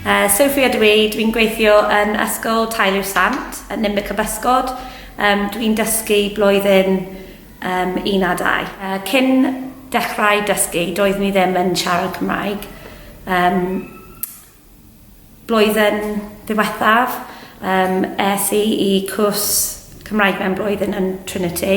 Yy, Sophie ydw i, dwi'n gweithio yn Ysgol Taeli'r Sant, yn Ninbych y Bysgod, yym dwi'n dysgu blwyddyn yym un a dau. Yy, cyn dechrau dysgu, doeddwn i ddim yn siarad Cymraeg, yym blwyddyn ddiwethaf, yym es i i cwrs Cymraeg mewn blwyddyn yn Trinity.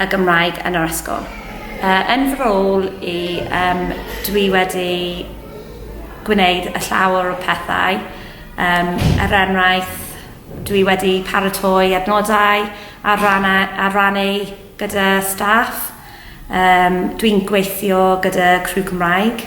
y Gymraeg yn yr ysgol. Uh, yn fy rôl i, um, dwi wedi gwneud y llawer o pethau. Um, er enghraifft, dwi wedi paratoi adnodau a, ranna, a rannu gyda staff. Um, dwi'n gweithio gyda Crew Cymraeg.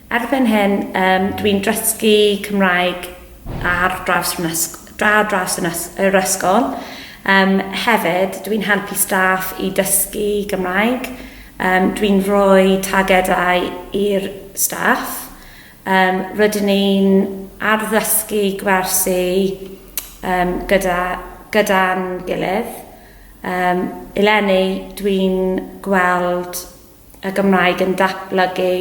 Erbyn hyn, um, dwi'n dysgu Cymraeg ar draws, ar draws yr ysgol. Um, hefyd, dwi'n helpu staff i dysgu Gymraeg. Um, dwi'n rhoi targedau i'r staff. Um, rydyn ni'n arddysgu gwersi um, gyda, gyda gilydd. Um, eleni, dwi'n gweld y Gymraeg yn datblygu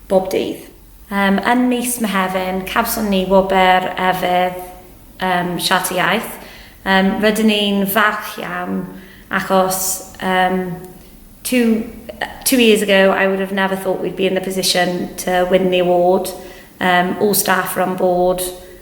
bob dydd. Um, yn mis Mehefin, cawson ni wobr efydd um, Siart y Iaith. Um, rydyn ni'n falch iawn achos um, two, two years ago I would have never thought we'd be in the position to win the award. Um, all staff are on board.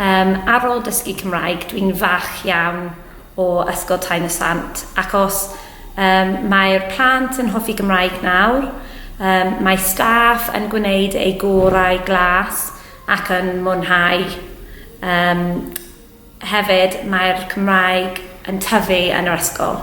Yym ar ôl dysgu Cymraeg dwi'n falch iawn o Ysgol Tain-y-sant ac os yym mae'r plant yn hoffi Gymraeg nawr yym mae staff yn gwneud eu gorau glas ac yn mwynhau yym hefyd mae'r Cymraeg yn tyfu yn yr ysgol.